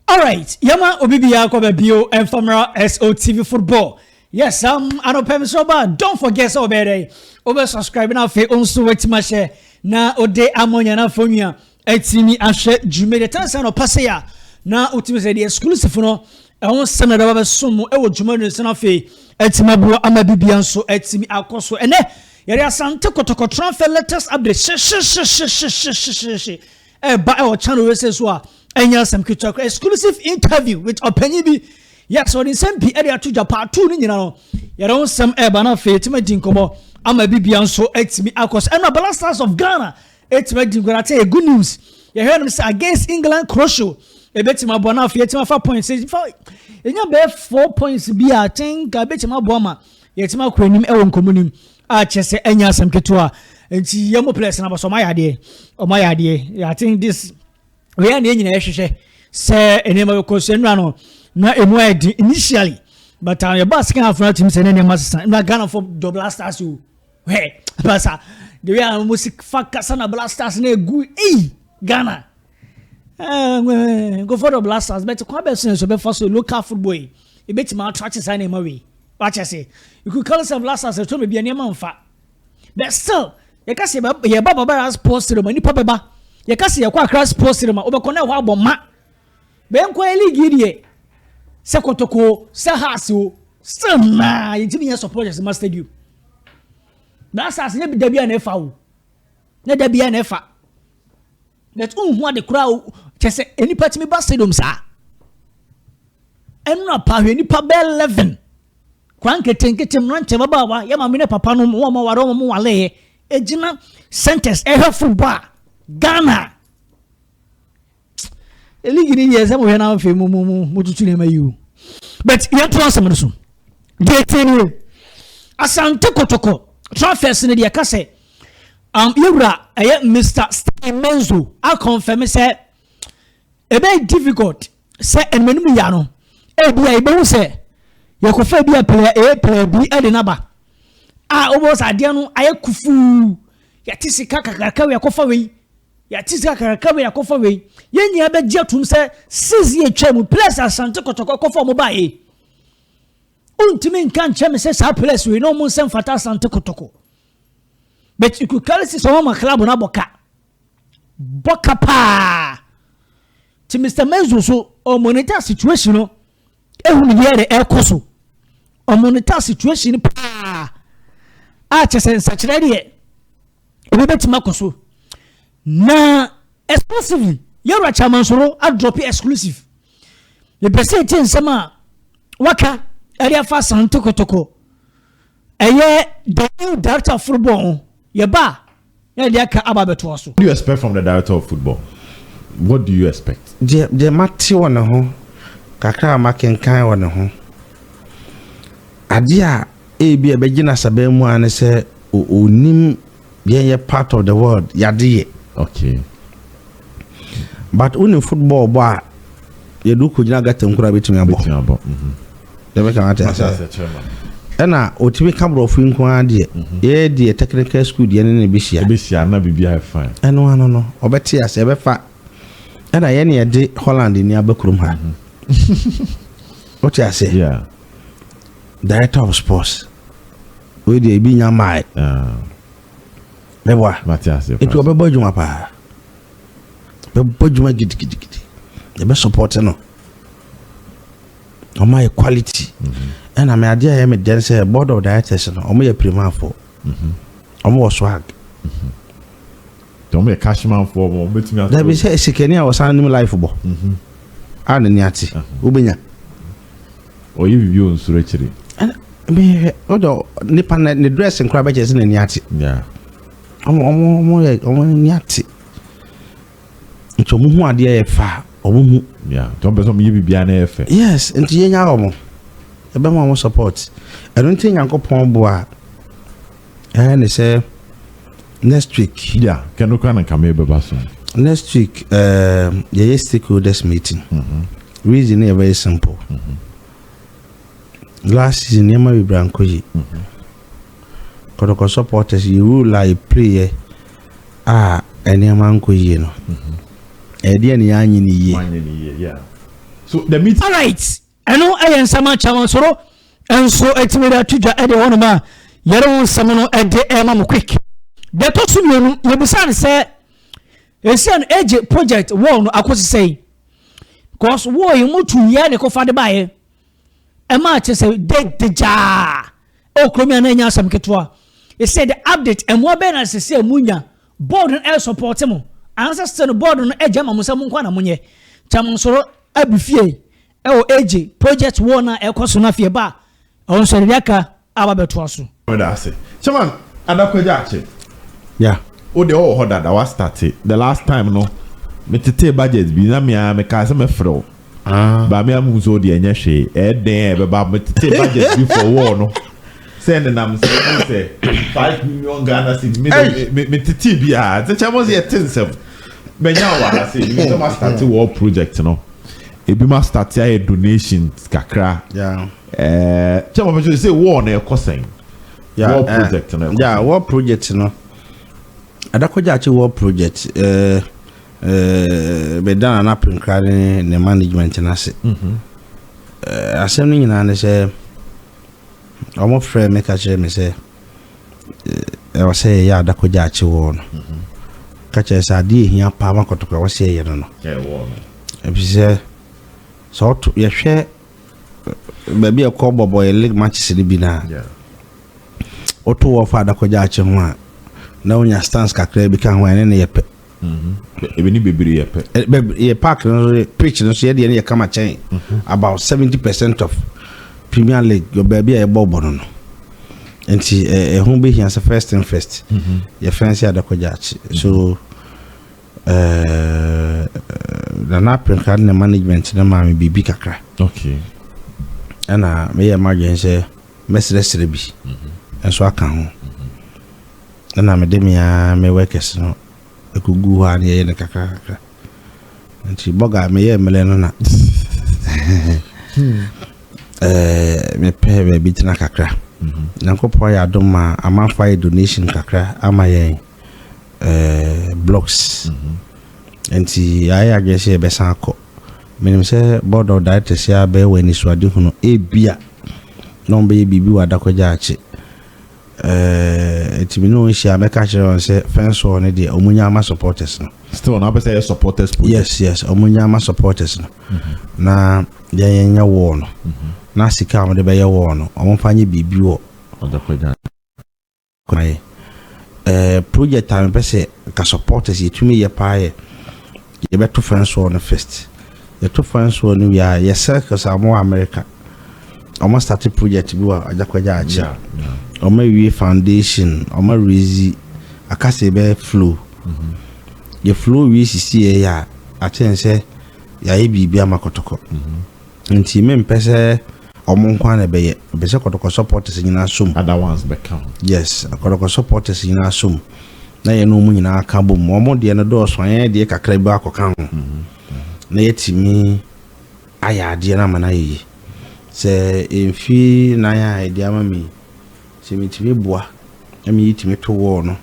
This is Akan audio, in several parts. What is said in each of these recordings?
Alright yɛma obi biara kɔ bɛbio ɛmfa mmra SOTV football yes um, anɔpɛ mesrɛ ba don't forget sɛ ɔbɛyɛ dɛn wobɛ subscribe na afei ɔnso watumi ahyɛ na ɔde amɔ nyana afɔnwia atumi ahwɛ dwumadi ɛtɛne sɛ anɔpa sɛ a na wotumi sɛ deɛ exclusive no ɛho nsɛm na daba bɛsom mu ɛwɔ dwumadi no sɛ no afei atumi aboa ama bibia nso atumi akɔ so ɛnɛ yɛde asante kɔtɔkɔtɔrɔ afɛ latest update hyehyehyehyehyehyehye ɛba ɛwɔ channel wei sɛ so a ɛnyɛ asɛm ketewa kora exclusive interview with ɔpanyin bi yes ɔde nsɛm pii ɛde ato dwa paatu no nyina no yɛde ho nsɛm ɛba no afei ɛtumi adi nkɔmmɔ ama bibia nso ɛtumi akɔ so ɛna bala stars of ghana ɛtumi adi nkɔmmɔ ate yɛ good news yɛhwɛ no sɛ against england croatia ɛbɛtumi aboa no afei ɛtumi afa points ɛfa ɛnya bɛyɛ four points bi a tenka ɛbɛtumi aboa ma yɛtumi akɔ anim ɛwɔ nkɔmmɔ no mu a kyɛ sɛ ɛnyɛ asɛm ketewa nti yɛ mo players na bɔsɔ ɔmo ayɛ adeɛ ɔmo ayɛ adeɛ i think this wei a na yɛn nyinaa ɛhwehwɛ sɛ nneɛma bɛ kɔ so nnura no na emu ayɛ den initially but uh, yɛba second half na tumi sɛ ne nneɛma sesa nnura ghana fo dɔ blasters o hɛ pasa the way a wɔn si fa kasa na blasters na egu eyi ghana. Eh, eh, go for the blasters but kwan bɛso na ɛsɛ bɛfa so local football yi ebɛtumi atrate saa nneɛma wei wakyɛ se you could call yourself blasters ɛtɔ baabi a nneɛma mfa but still yɛka sɛ yɛba babara sports room nipa bɛba yɛka sɛ yɛkɔ akra sports room a wobɛkɔ na ɛhɔ abɔ ma bɛnkɔ yɛ league yi deɛ sɛ kɔtɔkoo sɛ haase o still naa yɛntumi yɛ supporters ma stadium blasters nyɛ dabi a na ɛfa wo Na da biara na ɛfa. But wonhu ade koraa o. Kyɛ sɛ nnipa tumi ba stadium saa. Ɛnora pa hwɛ nnipa bɛɛ eleven. Kora nketenkete mmeranteɛ babaawa yɛ maame ne papa no wɔn a wɔaware wɔn waleeɛ. Ɛgyina centers ɛhwɛ football a Ghana. league ni yɛ sɛ mo hwɛ na afei mo mo mo mo tutu nneɛma yi o but yɛn to asɛm no so deɛ tie ni o asante kotoko transfers ni deɛ ka sɛ um, yɛwura ɛyɛ mr steven menzo akɔnfɛm sɛ ɛbɛyɛ difficult sɛ ɛnumɛnum ya no ebi a yɛbɛhu sɛ yɛkɔfɛ bi a pɛlɛ ɛyɛ pɛlɛ bi ɛde naba a wɔbɔ sɛ adeɛ no ayɛ kufuu yɛte sika kakraka wei yɛkɔfa wei Yɛate sika kakraka wei akɔfa wei. Yɛn nyinaa bɛgye atum sɛ six year twa mu players asante kɔtɔkɔ kɔfa wɔn baa yɛ. Wontumi nka nkyɛn me sɛ saa players wei na wɔn nsɛm fata asante kɔtɔkɔ. But you could carry six wɔn ma club no abɔ ka. Bɔ ka paa. Ti Mr. Menzo so ɔmonitor situation no ehunu deɛ ɛde ɛkɔ so ɔmo no ta situation paa a kyɛ sɛ nsakyerɛ deɛ ebi bɛtumi akɔ so na exclusively yɛwura kyamansoro adrɔpe exclusive yɛpɛ sɛ ɛtie nsɛm a waka ɛde afa santokotoko ɛyɛ the new director of football yɛba a Yɛde deɛ aka aba abɛtoa so. What do you expect from the director of football? What do you expect? Deɛ deɛ mate wɔ ne ho kakra a makenkan wɔ ne ho, adeɛ a ebi a ɛbɛgye n'asaban mu ara ne sɛ ɔnim yɛn yɛ part of the world yɛade yɛ. Okay. But wo nim football bɔ a yɛde wokɔ gyina gata nkura a bɛtumi abɔ. Bɛtumi abɔ. Mhm. Yɛbɛka wate aseɛ. Ɛna ɔtumi ka borɔfo yi nko ara deɛ. Mhm. Yɛyɛ deɛ technical school deɛ ne ne bɛhyia. Ɛbɛhyia na biribi ayɛ fine. Ɛno ano no ɔbɛte aseɛ ɛbɛfa. Ɛna yɛne yɛde Holland ni aba kurom ha. Mhm. Wote aseɛ? Yeah. Director of sports. Wei deɛ ebi nya maae. Ah. Mɛboa. Mate aseɛ. Etu ɔbɛbɔ adwuma paa. Yɛbɛbɔ adwuma gidigidigidi. Yɛbɛsupɔte no. Wɔayɛ quality. Ɛna me adeɛ a ɛyɛ me dɛn sɛ board of directors no wɔyɛ pirimafoɔ. Wɔwɔ swag. Wɔn yɛ cashmanfoɔ wɔn bɛtumi ato. Dabi sɛ sikani a wɔsan nim life bɔ. A na ni ate. Wobɛnya. Ɔyɛ biribi wɔ nsoro akyire. Ɛna mehwɛ ɔdɔ nipa ne dress nkora bɛkyɛ sɛ n'ani ate. Yeah. wɔn ani ate nti wɔn ho adeɛ yɛ fa wɔn mu. ya nti wɔn pɛ sɛ wɔn yɛ biribiara na yɛ fɛ. yes nti yɛn nya wɔn ɛbɛn wɔn support ɛno nti nyankopɔn bo a ɛyɛ ne sɛ next week. ya kɛno kora na nkame bɛba so. next week ɛɛ um, yɛyɛ stakeholders meeting. Mm -hmm. reason yɛ very simple. Mm -hmm. last season nneɛma bebree ankɔ yi. Mm -hmm. Kɔtɔkɔ supporters yi rule a yɛpleeɛ a nneɛma ankɔ yie no, ɛdeɛ ne yɛanyɛ no yie. So the meeting. Alright, ɛno ɛyɛ nsɛm akyɛ wɔn soro nso ɛtumi de ato dwa ɛde hɔnom a yɛde ho nsɛm no ɛde ɛma mo quick. Deɛ ɛtɔ so mmienu, yɛbisa no sɛ ɛsia no ɛgye project wall no akɔsi sɛn? Because wall yi motu yɛ ne kɔfa de baeɛ. ɛma kyerɛ sɛ date gyaa ɛwɔ kurom a na ɛnyɛ asɛm ketewa ɛsɛ the update ɛmmoa bɛyɛ na sɛ sɛ mu nya board no ɛyɛ support mo anaasɛ sɛ no board no ɛgya ma mo sɛ mo nkɔ na mo nyɛ kyɛ mo nsoro abu fie ɛwɔ agye project wɔn a ɛkɔ so no afei ɛba a ɔnsɔre de aka Aba bɛtoa so. Meda ase chairman ada kwagyaakye yeah wo deɛ wowɔ hɔ dada wa starte the last time no me tetee budget bi na me aa me kaa sɛ me frɛ wo but me ahu sɛ wo deɛ ɛnyɛ hwee ɛyɛ dɛn a ɛbɛba me tetee budget bi for war no sɛ ne nam sɛ ɛmu sɛ five million Ghana cedi me de me me tetee bi aa nti kyɛ mo sɛ yɛte nsɛm mɛnya wɔ ha sɛ ebi sɛ ma starte war project no ebi ma starte ayɛ donations kakra yeah. Chairman bɛsɛ sɛ war no ɛkɔ sɛn? War project no ɛkɔ sɛn? Yeah, war project no. Adakɔgyakye war project bɛda na napenkra ne ne management no ase. Mhm. Asɛm no nyinaa ne sɛ wɔn frɛ me ka kyerɛ me sɛ ɛwɔ sɛ yɛyɛ adakɔgyakye war no. Mhm. Ka kyerɛ sɛ adeɛ ehia paa ma kɔtɔkɔ ɛwɔ sɛ yɛyɛ no no. Ɛwɔ no. Ebi sɛ sɛ ɔto yɛhwɛ baabi a ɛkɔ bɔbɔ yɛ league matches no bi no a, woto wɔ fa adakɔgya akye ho a, na wonya stands kakra bi ka ho a, ɛne no yɛ pɛ. Mm-hmm. Ebi ne bebree yɛ pɛ. Eh, yɛ park no so, pitch no so, yɛ deɛ no yɛ kama kyɛn. Mm-hmm. About seventy percent of Premier League, yɔ baabi a yɛbɔ bɔ no no. Nti ɛho eh, eh, bɛhia sɛ first thing first, mm-hmm. yɛ fɛnse adakɔgya akye. So, Ɛɛɛ Nana Apenka ne ne management no maa me biribi kakra. Okay. Ɛna meyɛ m'adwene sɛ mɛsrɛsrɛ bi mm-hmm. nso aka ho. Mm-hmm. Ɛna mede me ara me workers no ɛkɔgu hɔ a ne yɛyɛ no kakra kakra. Nti bɔga meyɛ mmerɛ no na hmm. ɛɛ mepɛ baabi tena kakra. Mm-hmm. Nyankopɔn ayɛ adom ma amanfoɔ ayɛ donation kakra ama yɛn. eh, blocks nti yɛayɛ adwene sɛ yɛbɛsan akɔ menim sɛ board of directors yɛ abɛyɛ wɔ anisoade hunu ebia na ɔmbɛyɛ biribi wɔ adakɔgya akye eh, nti me ne wɔn hyia mɛka kyerɛ wɔn sɛ fence wall no deɛ ɔmo nya ama supporters no still ɔno apɛ sɛ yɛ supporters project yes yes ɔmo nya ama supporters no mm-hmm. na yɛn yɛn nyɛ wall no mm-hmm. na sika a wɔde bɛyɛ wall no wɔn fa nye biribi wɔ Kwae. Eh, project a mepɛ sɛ nka supporters yɛtumi yɛ paa yɛ, yɛbɛto fence wall no first. Yɛto fence wall no wie a, yɛ circles a wɔwɔ America. Wɔn start project bi wɔ Agyakwagya akyi. Wɔn awie foundation, wɔn arezi, aka sɛ yɛbɛ flow. Mhm. Yɛ flow wie sisi yɛ yɛ a, akyɛn sɛ yɛayɛ biribi ama kɔtɔkɔ. Mhm. Nti me mpɛ sɛ ɔmo nko ara na ɛbɛyɛ. Mepɛ sɛ kɔtɔkɔ supporters nyinaa som. Other ones bɛka ho. Yes, kɔtɔkɔ supporters nyinaa som na yɛne ɔmo nyinaa ka bom. Ɔmo deɛ no dɔɔso, yɛn deɛ kakra bi akɔ ka ho. Na yɛatumi ayɛ adeɛ no ama no ayɛ yie. Sɛ mfe nan a ɛde ama me yi, sɛ metumi boa na me yɛtumi to wall no,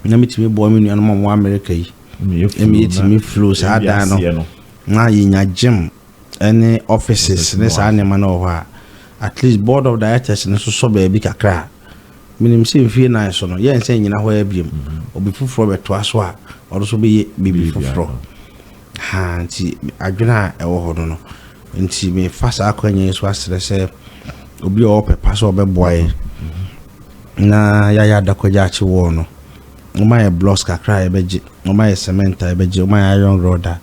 na metumi boa me nuanom a ɔmo wɔ America yi, na me yɛtumi flow saa dan no. Na yenya gym ne offices ne saa nneɛma no wɔ hɔ a, at least board of directors no nso sɔ baabi kakra a. Minim sɛ mfie nnan so no, yɛrensan nnyina hɔ ara bio. Obi foforɔ bɛtoa so a, ɔno nso bɛyɛ biribi foforɔ. Ha, nti adwene a ɛwɔ hɔ no no nti mefa saa akwanya yi so asrɛ sɛ obi a ɔwɔ ɔpɛ pa sɛ ɔbɛboa yɛn na yɛayɛ Adakwagya Akye Wall no. wɔayɛ blocks kakra a yɛbɛgye, wɔayɛ cement a yɛbɛgye, wɔayɛ iron rod a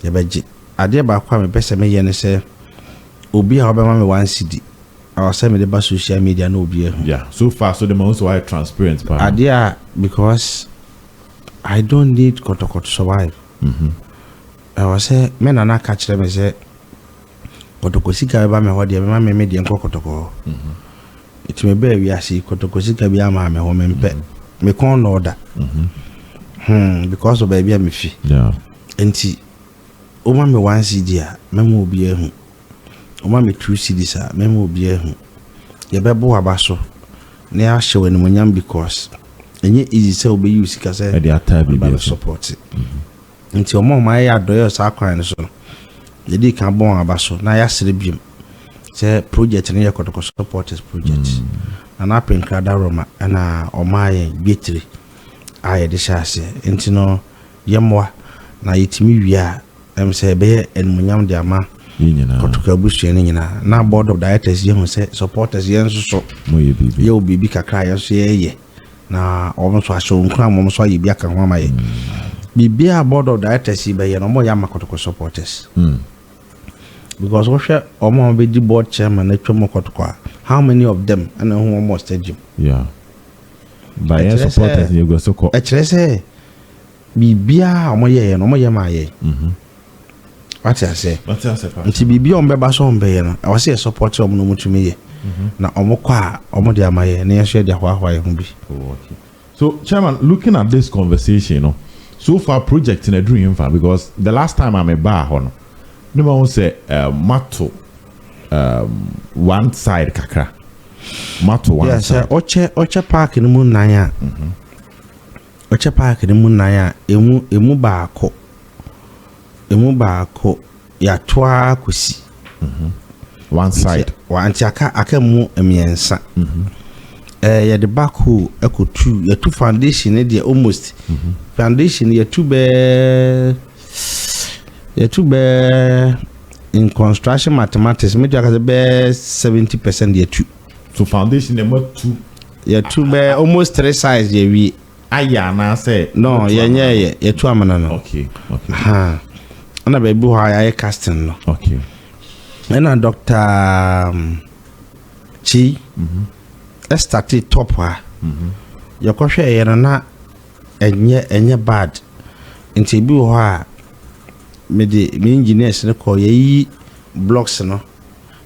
yɛbɛgye. Adeɛ baako a mepɛ sɛ meyɛ ne sɛ obi a ɔbɛma me one cedi, ɛwɔ sɛ mede ba social media na obi ahu. Yeah, so far so de ma sɛ wayɛ transparent paa. Adeɛ a because I don't need kɔtɔkɔ to survive. Ɛwɔ sɛ me nana ka kyerɛ me sɛ kɔtɔkɔ sika bɛba me hɔ deɛ mɛma me me deɛ nkɔ kɔtɔkɔ hɔ. Nti mebɛɛ wiase yi kɔtɔkɔ sika bi amaa me ho mempɛ mm-hmm. me kɔn na ɔda mm-hmm. hmm because of baabi a mefi nti woma me one cd a mɛma obi ahu woma me two cds a mɛma obi ahu yɛbɛbo aba so na yɛahyɛ wɔ animonyam because ɛnyɛ easy sɛ wobɛyi wo sika sɛ ɛde ataa biribi support mm-hmm. Enti wɔn a wɔayɛ yɛn adɔeɛ wɔ saa kwan no so no, yɛdii kan bɔ wɔn aba so na yɛasere bio sɛ project no yɛ Kɔtɔkɔ supporters project. Na na Apre Nkrada Roma na ɔmaa yɛn dwetire a yɛde hyɛ aseɛ. Enti no yɛmmoa na yɛtumi wie a, ɛm sɛ ɛbɛyɛ animuonyam de ama Kɔtɔkɔ abusua no nyinaa. Na board of directors yɛ hu sɛ supporters yɛn nso so yɛwɔ biribi kakra a yɛn nso yɛyɛ. Na wɔn nso ahyɛ wɔn nkuran ma wɔn nso ayɛ bi aka ho ama yɛ. Biribiara a board of directors yi bɛyɛ no, wɔyɛ ama kɔtɔkɔ supporters. Mm. Because wohwɛ wɔn a wɔbɛdi board chairman atwa mu kɔtɔkɔ a, how many of them ɛna ɛho wɔn wɔ stadium? Yeah. Bayɛ supporters yɛ gua so kɔ. Ɛkyerɛ sɛ Biribiara a wɔyɛeɛ no, wɔyɛ maa yɛn. Wate aseɛ? Nti biribiara a wɔbɛba sɛ wɔbɛyɛ no, ɛwɔ sɛ yɛ support wɔn na wɔtumi yɛ. Na wɔkɔ a, wɔde ama yɛn na yɛn nso yɛde ahoahoa yɛn ho bi. Oh, okay. So, Chairman, looking at this conversation no, so far project no aduru he fa? Because the last time a mebaa hɔ no, na mahu sɛ um, moato um, one side kakra. Moato one yeah, side. Yeah, sɛ ɔkyɛ ɔkyɛ park no mu nan a, mm -hmm. Ɔkyɛ park no mu nan a emu emu baako emu baako yɛato ara kɔsi mm-hmm. one side nti aka aka mu mmiɛnsa mm-hmm. ɛɛ yɛde backhoe ɛkɔtu yɛtu foundation ne deɛ almost mm-hmm. foundation yɛtu bɛɛ yɛtu bɛɛ in construction mathematics mɛtu akasɛ bɛɛ seventy percent yɛtu. To foundation na ɛma tu. Yɛtu bɛɛ almost three sides yɛ wie. Ayɛ anaasɛ. No yɛ nyɛ yɛ yɛtu amena no. Okay okay. Ha ɛna baabi hɔ a yɛayɛ casting no. Okay. Ɛna doctor Chi. Mm -hmm. Ɛstate top ha. Mm -hmm. Yɛkɔhwɛ ɛyɛ no na ɛnyɛ ɛnyɛ bad nti ebi wɔ hɔ a mede me engineers no kɔ yɛyi blocks no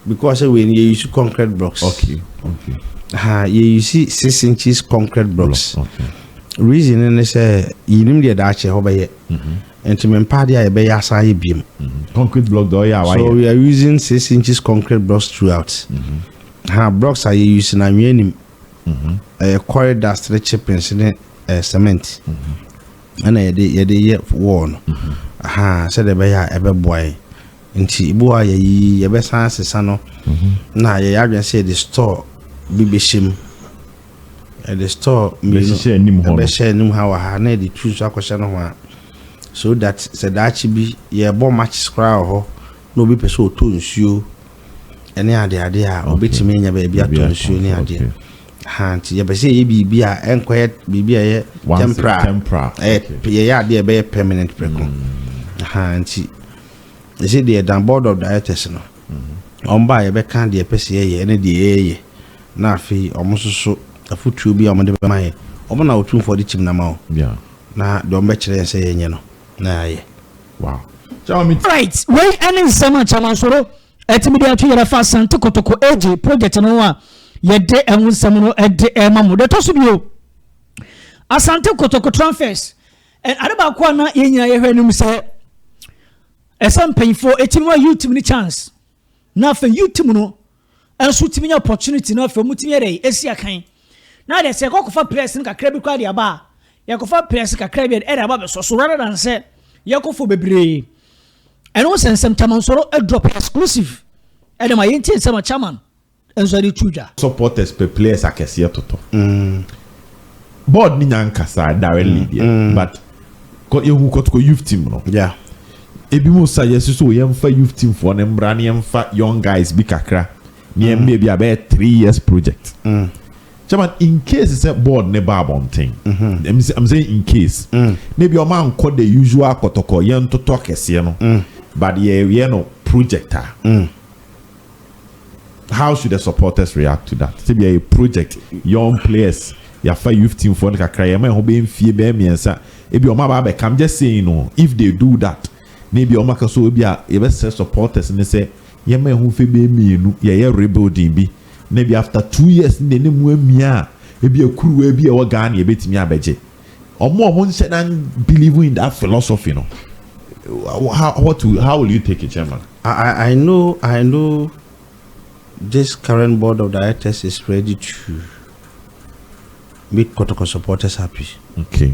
Because sɛ wei no yɛ use concrete blocks. Okay okay. Ha yɛ use six inches concrete blocks. Block, okay. Reason no ne sɛ yɛnim deɛ daakye hɔ bɛyɛ. Mm-hmm. Nti me mpa adeɛ a yɛbɛyɛ asan ayɛ biem. Mm-hmm. Concrete block deɛ ɔyɛ a wayɛ. So we are using six inches concrete blocks throughout. Mm-hmm. Ha blocks a yɛ use na anwea nim. Mm-hmm. Ɛyɛ quarry dust ne chippings ne uh, cement. Mm-hmm. ɛna yɛde yɛde yɛ wall no ahaa sɛdeɛ ɛbɛyɛ a ɛbɛboa yɛn nti ebi wɔ a yɛyi yɛbɛsan asesa no na yɛyɛ adwene sɛ yɛde store bi bɛhyɛ mu yɛde store mmienu ɛbɛhyɛ anim ha wɔ ha na yɛde tu nso akɔhyɛ no ho a so that sɛ daakye bi yɛbɔ matches koraa wɔ hɔ na obi pɛ sɛ ɔtɔ nsuo ɛne adeade a obɛtumi anya baabi atɔ nsuo ne adeɛ Ahaa nti yɛpɛ sɛ yɛyɛ biribi a ɛnkɔyɛ biribi a ɛyɛ Once temporal. it's temporal. Ɛyɛ Okay. p- yɛyɛ adeɛ a ɛbɛyɛ permanent prɛko. Ahaa nti ɛsɛ deɛ dan board of directors no wɔn ba a yɛbɛka deɛ ɛpɛ sɛ yɛyɛ ne deɛ yɛyɛ na afei wɔn nso so afotuo bi a wɔde bɛma yɛ wɔn na wɔtumfoɔ de tim no ama wo Yeah. na deɛ wɔn bɛkyerɛ yɛn sɛ yɛnyɛ no na yɛayɛ. Wow. Chairman, me Alright, wei ɛne nsɛm a Chairman Soro Ɛtumi de ato yɛrɛ fa Asante Kotoko Age project no ho a yɛde ɛho nsɛm no ɛde ɛma mo. Deɛ ɛtɔ so bio, Asante Kotoko transfers ade baako a na yɛn nyinaa yɛhwɛ no mu sɛ ɛsɛ mpanyinfoɔ ɛtumi ma youth no chance na afei youth mu no nso tumi nya opportunity na afei mu tumi yɛ dɛ ɛsi akan na deɛ sɛ ɛkɔkɔfa players no kakra bi kɔ adeɛ aba a yɛkɔfa players kakra bi ɛde aba bɛsɔ so rather than sɛ yɛkɔfo bebree. ɛno sɛ nsɛm chairman sɔrɔ drop exclusive ɛna ma yɛn ti nsɛm a chairman nso ɛde tu dwa. supporters pɛ players akɛseɛ toto. Mm. board ni nya nkasa directly mm. deɛ mm. but kɔ yɛhu kɔtokɔ youth team no. Yeah. ebi mu sa yɛsi so yɛnfa youth team foɔ ne mbra ne yɛnfa young guys bi kakra ne yɛn mbɛ bi abɛyɛ three years project. Mm. Chairman, in case sɛ board no ba abɔnten, I'm saying in case, na ebia wɔankɔ the usual kɔtɔkɔ, yɛntoto akɛseɛ no, but yɛyɛ no project a, how should the supporters react to that? Sɛ bia yɛ project, young players, yɛafa youth teamfoɔ no kakra, yɛma ɛho bɛyɛ mfie bɛyɛ mmiɛnsa, ebia wɔaba abɛka, I'm just saying o, if they do that. Na ebia wɔaka so ebia yɛbɛsrɛ supporters no sɛ yɛmma ɛho mfe bɛyɛ mmienu yɛyɛ rebuilding bi na ebia after two years no deɛ na emu amia a ebia kuruwa bi a ɛwɔ Ghana yɛbɛtumi abɛgye. Wɔn a wɔnhyɛ da believe in that philosophy no how what will how will you take it chairman? I I know I know this current board of directors is ready to make Kotoko supporters happy. Okay.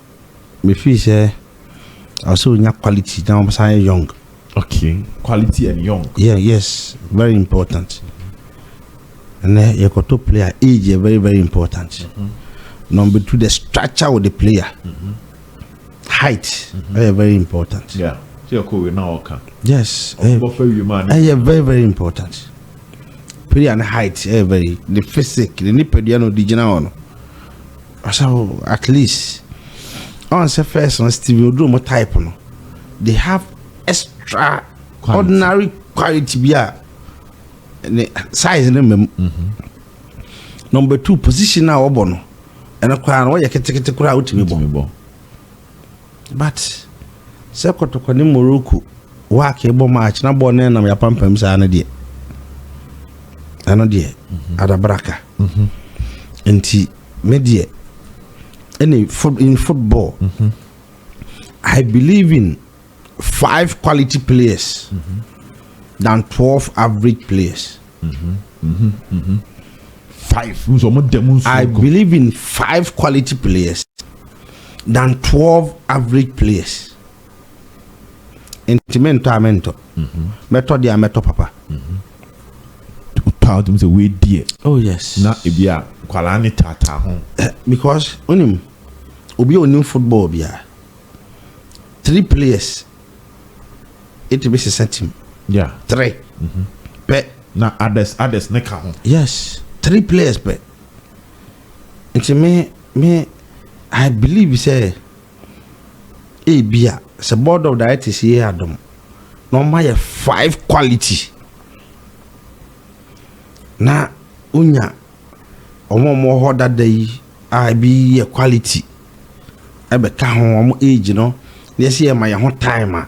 Me feel sɛ ɛwɔ sɛ onya quality na ɔsan yɛ young. Okay quality and young. Yeah yes very important ɛnɛ yɛ kɔ to player age yɛ very very important. Mm -hmm. Number two the structure of the player. Mm -hmm. Height ɛyɛ mm -hmm. very important. Yeah sɛ yɛ kɔ wei na ɔka. Yes ɛyɛ eh, very very important. Player ne height ɛyɛ very ne physique ne nipadua na ɔdi gyina hɔ no. Ɔsaw at least ɔn sɛ first no Stevie Oduro mo type no they have extra quality. ordinary quality bi a ne size no mmam. Mm -hmm. Number two position a wɔbɔ no ɛno koraa no wɔyɛ ketekete koraa wotumi bɔ. But sɛ kɔtɔkɔ ne morocco wak bɔ match na bɔɔl no ɛnam yɛ apampam saa no deɛ ɛno deɛ adabraka nti me deɛ ɛne in football I believe in five quality players than twelve average players I believe in five quality players than twelve average players. Nti me ntɔ a me ntɔ. Mhm. Mɛtɔ deɛ a mɛtɔ papa. Mhm. Tɔ a wotumi sɛ wei deɛ. Oh yes. Na ebi a nkwadaa ne taataa ho. Eh, because onim obi a onim football bia three players Etumi sesa tim. Yeah. Three. Mm-hmm. Pɛ. Na others others ne ka ho. Yes. Three players pɛ. Nti me me I believe sɛ ebi a sɛ board of directors yɛ adom na wɔn ayɛ five quality na wonya wɔn a wɔwɔ hɔ dada yi a ebi yɛ quality bɛka ho, wɔn age no, na yɛsi yɛma yɛn ho time a,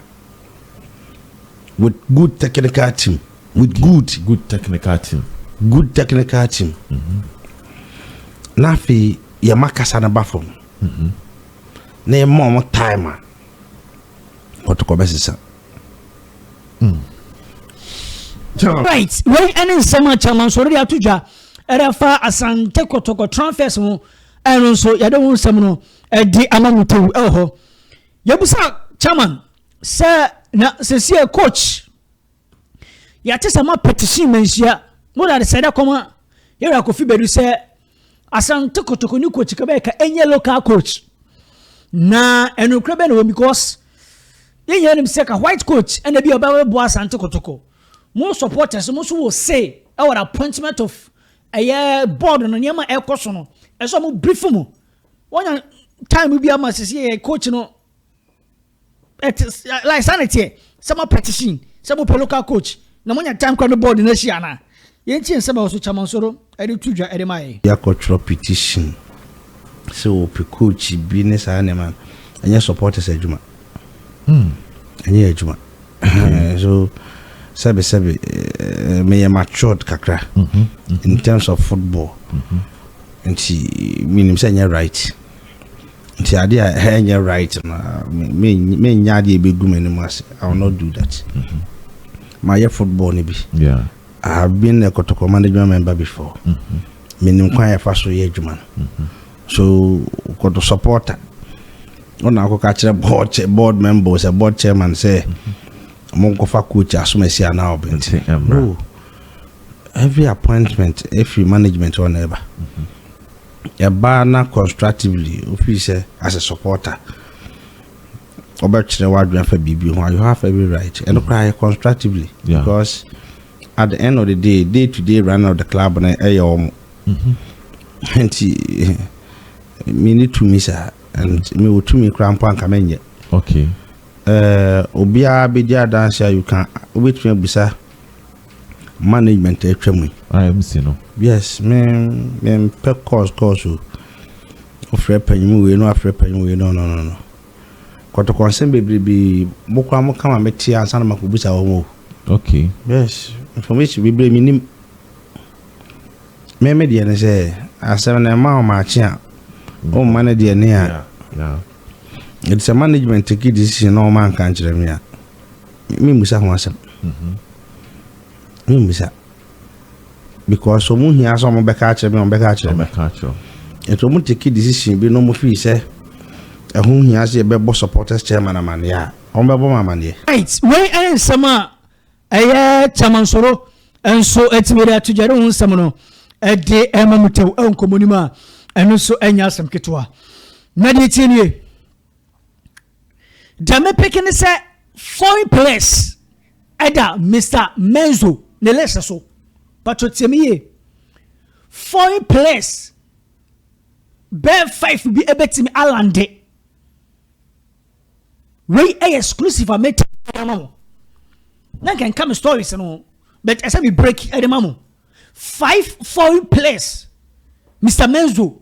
with good technical team, with good good technical team, good technical team. Mm -hmm. na afei yɛma kasa no ba fam mm -hmm. na yɛma wɔn time a wɔtokɔ bɛsesa. Right, wei ɛne nsɛm a Chairman Sɔre de ato dwa ɛde afa Asante Kɔtɔkɔ transfers ho ɛno nso yɛde ho nsɛm no ɛde ama mu tew ɛwɔ hɔ yɛbusa Chairman sɛ na sɛsie coach yɛate sɛ ma petition manhyia mo de ade sɛ dɛ kɔma yɛwura kofi bɛdu sɛ Asante Kotoko ne coach kɛbɛyɛ ka ɛnyɛ local coach na ɛnokorɛ bɛ na wɔm because yɛn nyinaa nim sɛ ka white coach ɛna bi a ɔbɛboa Asante Kotoko mo supporters mo nso wɔ say ɛwɔ the appointment of ɛyɛ board no nneɛma ɛkɔ so no ɛsɛ ɔmo brief mu wɔnya time bi ama sisi yɛ coach no ɛte like saa na ɛteɛ sɛ mo petition sɛ mo pɛ local coach na mo nya time kora no board na ahyia na yɛn ti nsɛm ɛwɔ so Kyamansoro ɛde to dwa ɛde ma yɛ. Yɛakɔtwerɛ petition sɛ wɔpɛ coach bi ne saa nneɛma no ɛnyɛ supporters adwuma hmm. ɛnyɛ adwuma hmm. so sɛbe sɛbe eh, meyɛ matured kakra hmm, hmm. in terms of football nti menim sɛ ɛnyɛ right Nti adeɛ a ɛhɛ nyɛ right no menyɛ adeɛ ɛbɛgu m'anim ase I will not do that mm-hmm. mayɛ football no bi yeah. I have been a Kotoko management member before mm-hmm. menim kwan yɛfa so yɛ adwuma no mm-hmm. so kɔto supporter ɔna akɔka kyerɛ board, board member sɛ board chairman sɛ monkɔfa coach asom asi anaa ɔbɛnti no every appointment ɛfiri management ɔna ɛba mm-hmm. ɛbaa na constructively o feel sɛ as a supporter ɔbɛ kyerɛ w'adwene afa biribi ho you have every right ɛno koraa yɛ constructively yeah. because at the end of the day day to day running of the club no ɛyɛ wɔn nti mi ni tumi saa and mi wɔ tumi koraa mpo anka mɛ nyɛ okay ɛɛ eh, obiara bɛ di adansi a you can wobɛtumi abisa Management a atwa mu yi. IMC no. Yes me me mpɛ course course o. Wofrɛ panyin wei na wafrɛ panyin wei no no no no. Kɔtɔkɔ nsɛm bebrebe mo kora mo kama me te ansa na mako busa wɔn o. Okay. Yes information bebree me nim. Me me deɛ ne sɛ asɛm na ɛma wɔn akye a wɔn mma ne deɛ ne a. It's a management take decision na wɔn anka nkyerɛ me a. Memmisa ho asɛm. Memmisa. Because wɔn hia sɛ wɔbɛka akyerɛ me, wɔbɛka akyerɛ me. Wɔbɛka akyerɛ wo. Nti wɔn take decision bi na wɔn feel sɛ ɛho hia sɛ yɛbɛbɔ supporters chairman amaneɛ a, wɔn bɛbɔ me amaneɛ. Right, wei ɛyɛ nsɛm a ɛyɛ kyamansoro nso ɛtumi de ato gya de ho nsɛm no ɛde ɛma mu tɛw ɛwɔ nkɔmɔ no mu a ɛno nso ɛnyɛ asɛm ketewa. Na deɛ tie nie. Deɛ me peke ne sɛ foreign players ɛda Mr Menzo ne list so patro tie me yie foreign players bɛɛ five bi ɛbɛtumi alande wei ɛyɛ exclusive a mɛti ama mo na nka nka me stories no but ɛsɛ me break ɛde ma mo five foreign players Mr Menzo